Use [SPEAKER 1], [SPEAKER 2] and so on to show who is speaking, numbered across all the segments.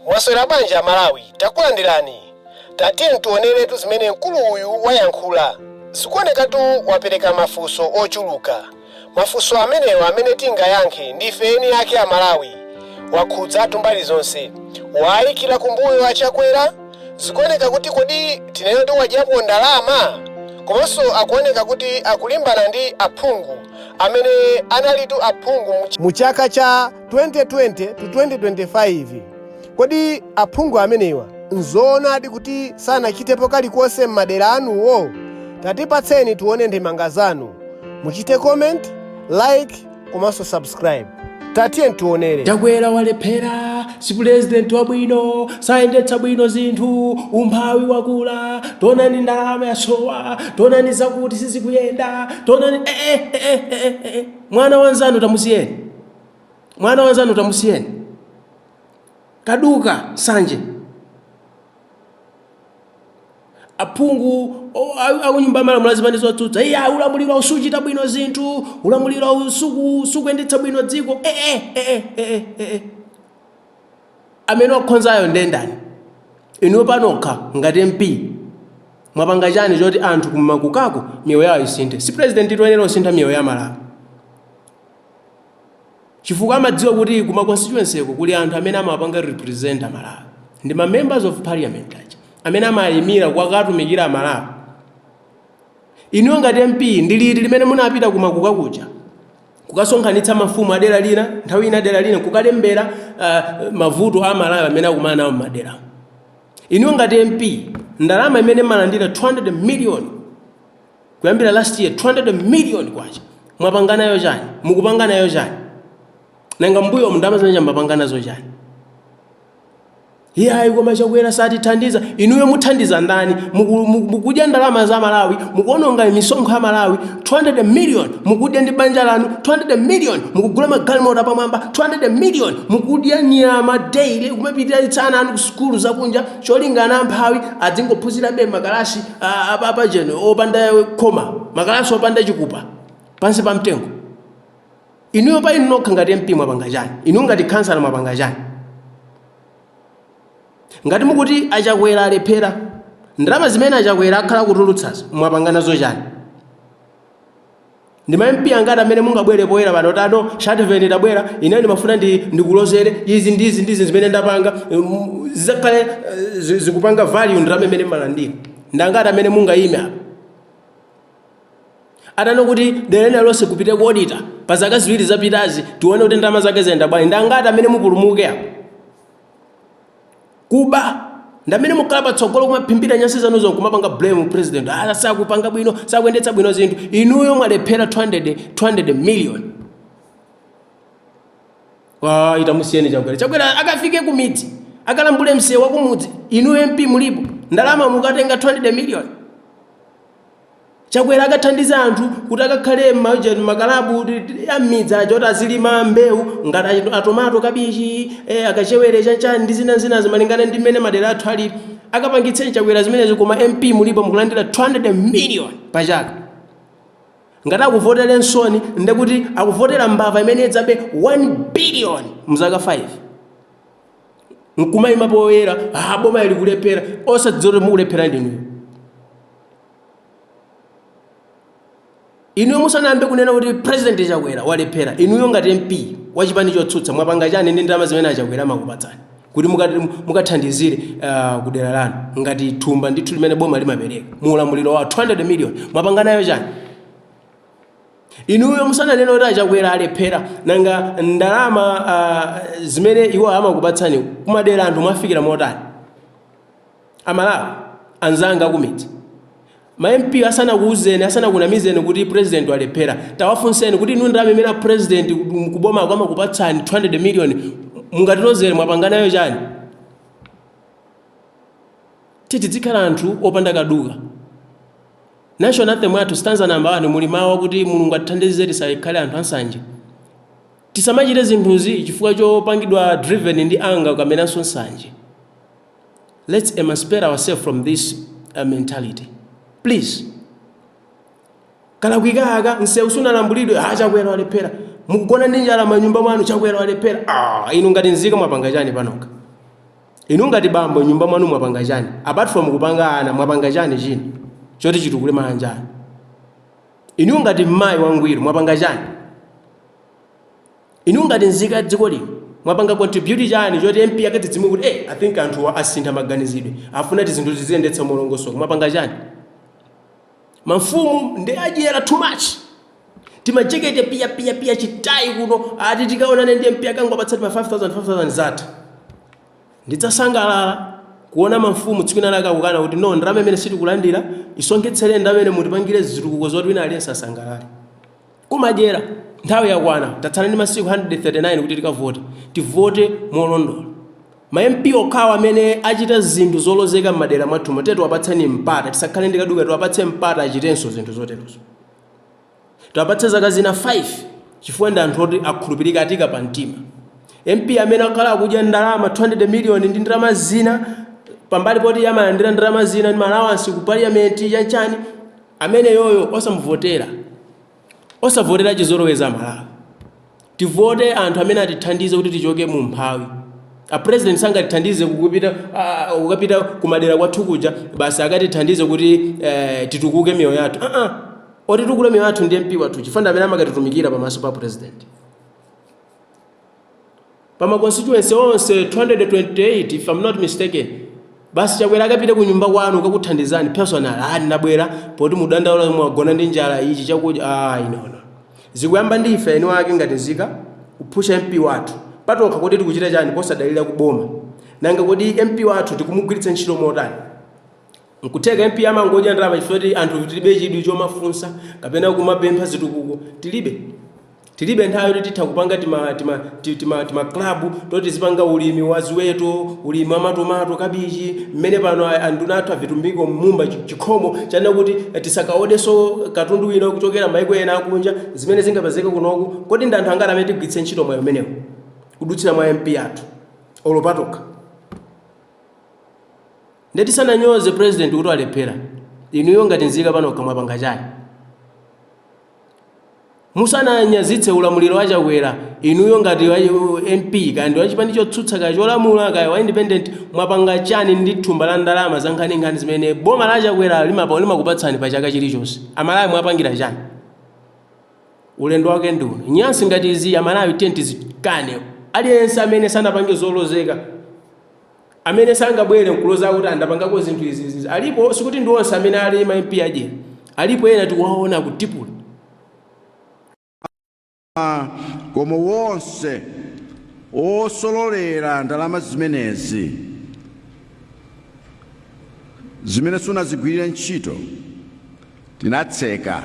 [SPEAKER 1] Mwaswera bwanji amalawi takulandirani tatiyeni tioneretu zimene mkulu uyu wayankhula zikuonekatu wapereka mafunso ochuluka mafunso amenewa amene tingayankhe ndife eni ake amalawi wakhudzatu mbali zonse waayikira kumbuyo achakwera zikuoneka kuti kodi tinene kuti wadyapo ndalama komanso akuoneka kuti akulimbana ndi aphungu amene analitu aphungu mu mu chaka cha 2020 to 2025. Kodi aphungu amenewa n'zoonadi kuti sanachitepo kalikonse m'madera anuwo? Tatipatseni tione ndemanga zanu. Muchite comment, like komanso subscribe. Tatiyeni tionere. chakwera walephera
[SPEAKER 2] si pulezidenti wabwino sayendetsa bwino zinthu umphawi wakula tonani ndalama yasowa tonani zakuti sizikuyenda tonani eh, eh, eh, eh, eh, eh. mwana wanzanu tamusiyeni mwana wanzanu tamusiyeni kaduka sanje aphungu o- a- akunyumba ya malamulo azipani zotsutsa iyayi ulamulirowu sukuchita bwino zinthu ulamulirowu suku- sukuyendetsa bwino dziko eh, eh, eh, eh, eh, eh, eh. amene wakhonzayo ndendani inuyo panokha ngati mp mwapanga chani choti anthu kumakukako miyoyo yawo isinthe si president woyenera kusintha miyoyo ya amalawi chifukwa amadziwa kuti kuma constituencyko kuli anthu amene amawapanga represent amalawi ndi ma members of parliament aja amene amayimira kukawatumikira amalawi inuyo ngati mp ndi liti limene munapita kumakuka kuja kukasonkhanitsa mafumu adera lina nthawi ina dera lina kukalembera uh, mavuto a amalawi amene akumana nawo mmadera inuyo ngati mp ndalama imene mmalandira 200 million kuyambira last year 200 million kwacha mwapanga nayo chani mukupanga nayo chani nanga mmbuyomu ndalama zimene mwapanga nazo chani iyayi koma chakwera satithandiza inuyo muthandiza ndani Muku- muku- mukudya ndalama za malawi mukuononga misonkho ya malawi 200 million mukudya ndi banja lanu 200 million mukugula magalimoto apamwamba 200 million mukudya nyama daily kumapititsa ana anu ku sukulu zakunja cholinga ana amphawi adzingophunzirabe mmakalasi apacheni opanda khoma makalasi opanda chipupa pansi pa mtengo inuyo pa inu nokha ngati mp mwapanga chani inu ngati khansala mwapanga chani ngati mukuti achakwera alephera ndalama zimene achakwera akhala akutulutsazo mwapanga nazo chani Ndi ma MP angati amene mungabwere poyera pano tano Shativeni ndabwera ineyo ndimafuna ndikulozereni izi ndi izi ndi izi zimene ndapanga mm, zizakhale eh, zi- zikupanga value ndalama imene mmalandira. Ndi angati amene mungayime apa? Atanena kuti dera lililonse kupite ku auditor pa zaka ziwiri zapitazi tione kuti ndalama zake zayenda bwanji. Ndi angati amene mupulumuke apa? Kuba ndamene mukhala patsogolo kumaphimbira nyansi zanuzo nkumapanga blame president ah, sakupanga bwino sakuyendetsa bwino zinthu inuyo mwalephera 200, 200 million ah, itamusiyeni chakwera chakwera akafike kumidzi akalambule msewu wakumudzi inuyo mp mulipo ndalama mukatenga 200 million Chakwera akathandiza anthu kuti akakhale mmakalabu ammidzi aja kuti azilima mbewu ngati atomato, kabichi, eh, akachewere chanchani ndi zina zinazo malingana ndi mmene madera athu alili. Akapangitseni Chakwera zimenezi koma MP mulipo mukulandira 200 million pa chaka. Ngati akuvotere nsoni nde kuti akuvotera mbava imene idzabe 1 billion mzaka 5. nkumayima poyera ah, boma ili kulephera osadziwa kuti mukulephera ndinuyo inuyo musanayambe kunena kuti president chakwera walephera inuyo ngati mp wachipani chotsutsa mwapanga chani ndi ndalama zimene achakwera amakupatsani kuti mukathandizire uh, kudera lanu ngati thumba ndithu limene boma limapereka mu ulamuliro wa 200 million mwapanga nayo chani Inuyo musananene kuti achakwera alephera nanga ndalama uh, zimene iwo amakupatsani kumadera anthu mwafikira motani amalawi anzanga akumidzi ma mp asanakuuzeni asanakunamizeni kuti president walephera tawafunseni kuti inu ndalama imene president kubomako amakupatsani 200 million mungatilozere mwapanganayo chani titi tizikhala anthu opanda kaduka National anthem yathu stanza number 1 muli mawu akuti Mulungu atithandize tisakhale anthu ansanje. Tisamachite zinthuzi chifukwa chopangidwa driven ndi anger kapenanso nsanje. Let's emancipate ourselves from this uh, mentality. Please. Kalakwika aka msewu sunalambulidwe ha chakwera walephera. Mukugona ndi njala manyumba mwanu chakwera walephera. Ah, inu ngati nzika mwapanga chani panokha? Inu ngati bambo nyumba mwanu mwapanga chani apart from kupanga ana mwapanga chani china choti chitukule maanja anu inu ngati mmayi wangwiro mwapanga chani inu ngati nzika ya dziko lino mwapanga contribute chani choti mpaka tidzimva kuti eh, i think anthuwa asintha maganizidwe afuna kuti zinthu tiziyendetsa molongosoka mwapanga chani Mamfumu ndi adyera too much. Timajekete piya piya piya chitayi kuno ati tikaonane ndi MP akangopatsa tima 5000 5000 zatha. Ndidzasangalala kuona mamfumu tsiku lina lake akukana kuti no ndalama imeneyi sitikulandira isonkhetseni ndalama imeneyi mutipangire zitukuko zoti wina aliyense asangalale. Kumadyera! Nthawi yakwana. Tatsala ndi masiku 139 kuti tikavote. Tivote molondola. Ma MP okhawo amene achita zinthu zolozeka m'madera mwathumo tiyeni tiwapatseni mpata. Tisakhale ndi kaduka. Tiwapatse mpata achitenso zinthu zoterozo. Tiwapatse zaka zina 5 chifukwa ndi anthu oti akhulupirika, atika pamtima. MP amene akhala akudya ndalama 200 miliyoni ndi ndalama zina pambali poti iye amalandira ndalama zina ndi ma allowance ku parliament chanchani, ameneyoyo osamuvotera osavotera chizolowezi amalawi tivote anthu amene atithandize kuti tichoke mu mphawi a president sangatithandize kupita ah, kukapita kumadera kwathu kuja basi akatithandize kuti eh, titukuke miyoyo yathu uh -uh. otitukula miyoyo yathu ndi mp wathu chifukwa ndi amene amakatitumikira pamaso pa president pa ma constituency onse 228 if I'm not mistaken basi chakwera akapite ku nyumba kwanu kukakuthandizani personal ali ndabwera poti mudandaula mwagona ndi njala ichi chakudya ah inono zikuyamba ndi ife eni wake ngati nzika kuphusha mp wathu patokha kodi tikuchita chani posadalira kuboma nanga kodi mp wathu tikumugwiritsa ntchito motani Nkutheka MP amangodya ndalama chifukwa choti anthufe tilibe chidwi chomafunsa kapena kumapempha zitukuko tilibe. Tilibe nthawi yoti titha kupanga tima tima ti- tima tima club toti tizipanga ulimi wa ziweto, ulimi wa matomato, kabichi, mmene pano a- anduna athu avitumbiko mmumba chi- chikhomo cha nena kuti eh, tisakaodenso katundu wina kuchokera maiko ena akunja zimene zingapezeke kunoku. Kodi ndi anthu angati amene tigwiritse ntchito mwayi umenewu kudutsira mwa MP athu olo patokha? Nde tisananyoze president kuti walephera, inuyo ngati nzika panokha mwapanga chani? Musananyazitse ulamuliro wa Chakwera, inuyo ngati MP kaya ndi wachipani chotsutsa kaya cholamula kaya wa independent mwapanga chani ndi thumba la ndalama za nkhaninkhani zimene boma la Chakwera limapa limakupatsani pa chaka chilichonse? Amalawi mwapangira chani? Ulendo wake ndi uno. Nyansi ngati izi Amalawi tiyeni tizikane. Aliyense amene sanapange zolozeka amene sangabwere nkuloza kuti ndapangako zinthu izi izi alipo sikuti ndi onse amene ali ma MP adyera alipo ena tikuwaona
[SPEAKER 3] kutipula koma wonse osolola ndalama zimenezi zimene sanazigwirire ntchito tinatseka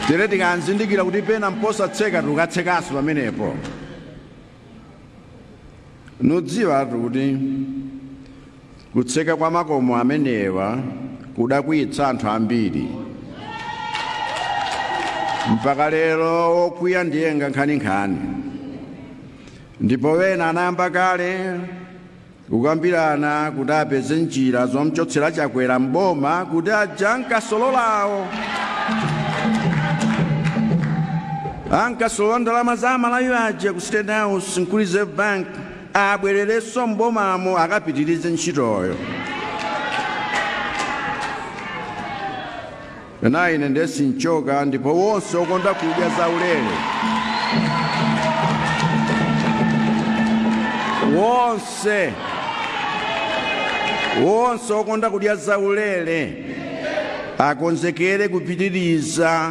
[SPEAKER 3] tere tikanzindikira kuti pena mposatseka tikatsekanso pamenepo mudziwetu kuti kutseka kwa makomo amenewa kudakwiyitsa anthu ambiri mpaka lero wokwiya ndiye nkhaninkhani ndipo ena anayamba kale Kukambirana kuti apeze njira zomchotsera Chakwera m'boma kuti aja ankasololawo ankasolola ndalama za amalawi aja ku State House ku Reserve Bank abwererenso m'bomamo akapitirize ntchitoyo. Ena ine nde sinchoka ndipo wonse okonda kudya zaulere wonse wonse okonda kudya zaulere akonzekere kupitiriza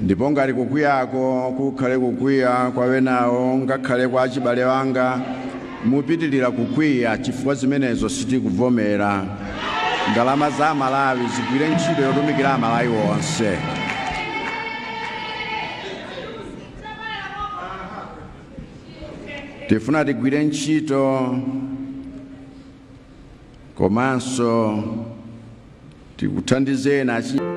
[SPEAKER 3] ndipo ngati kukwiyako kukhale kukwiya kwa wenawo ngakhale kwa achibale anga mupitirira kukwiya chifukwa zimenezo sitikuvomera ndalama za amalawi zigwire ntchito yotumikira amalawi onse tifuna tigwire ntchito komanso Tikuthandizeni achinyamata.